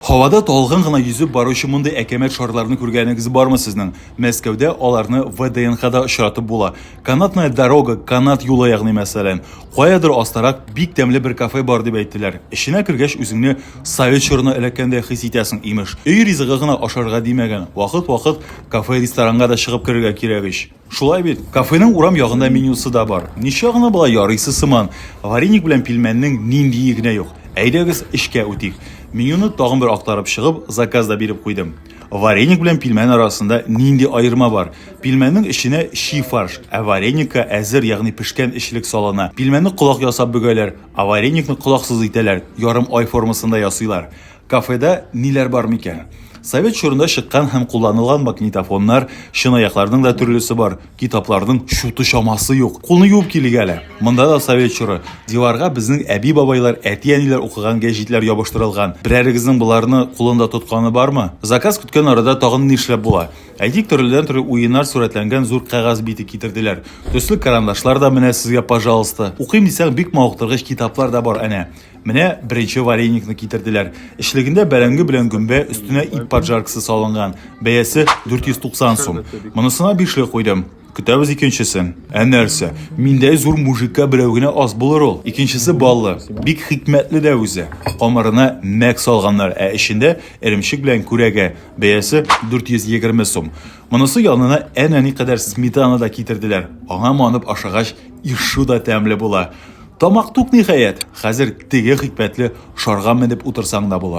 Һавада талгын гына йөзеп баручы мондый әкәмәт шарларны күргәнегез бармы сезнең? Мәскәүдә аларны ВДНХда очратып була. Канатная дорога, канат юлы ягъни мәсәлән. Каядыр астарак бик тәмле бер кафе бар дип әйттеләр. Эченә кергәч үзеңне совет чорына эләккәндәй хис итәсең, имеш. Өй ризыгы гына ашарга димәгән, вакыт-вакыт кафе-ресторанга да чыгып керергә кирәк ич. Шулай бит, кафеның урам ягында менюсы да бар. Ничә гына болай ярыйсы сыман, вареник белән пилмәннең ниндие генә юк. Әйдәгез, эчкә үтик. Менюны тагын бер актарып чыгып, заказ да биреп куйдым. Вареник белән пилмән арасында нинди аерма бар? Пилмәннең эченә чи фарш, ә вареникка әзер, ягъни пешкән эчлек салына. Пилмәнне колак ясап бөгәләр, ә вареникны колаксыз итәләр, ярым ай формасында ясыйлар. Кафеда ниләр бар микән? Совет чорында чыккан һәм кулланылган магнитофоннар, чынаякларның да төрлесе бар, китапларның чуты чамасы юк. Кулны юып килик әле. Монда да совет чоры. Диварга безнең әби-бабайлар, әти-әниләр укыган гәҗитләр ябыштырылган. Берәрегезнең боларны кулында тотканы бармы? Заказ көткән арада тагын нишләп була? Әйтик, төрледән-төрле уеннар сурәтләнгән зур кәгазь бите китерделәр. Төсле карандашлар да менә сезгә, пожалуйста. Укыйм дисәң, бик мавыктыргыч китаплар да бар әнә. Менә беренче вареникны китерделәр. Эчлегендә бәрәңге белән гөмбә, өстенә ит поджаркасы салынган. Бәясе 490 сум. Монысына бишле куйдым. Көтәбез икенчесен. Ә нәрсә? Миндәй зур мужикка берәү генә аз булыр ул. Икенчесе баллы. Бик хикмәтле дә үзе. Камырына мәк салганнар, ә эчендә эремчек белән күрәгә. Бәясе 420 сум. Монысы янына әнә никадәр сметана да китерделәр. Аңа манып ашагач, ишу да тәмле була. Тамак тук, ниһаять, хәзер теге хикмәтле шарга менеп утырсаң да була.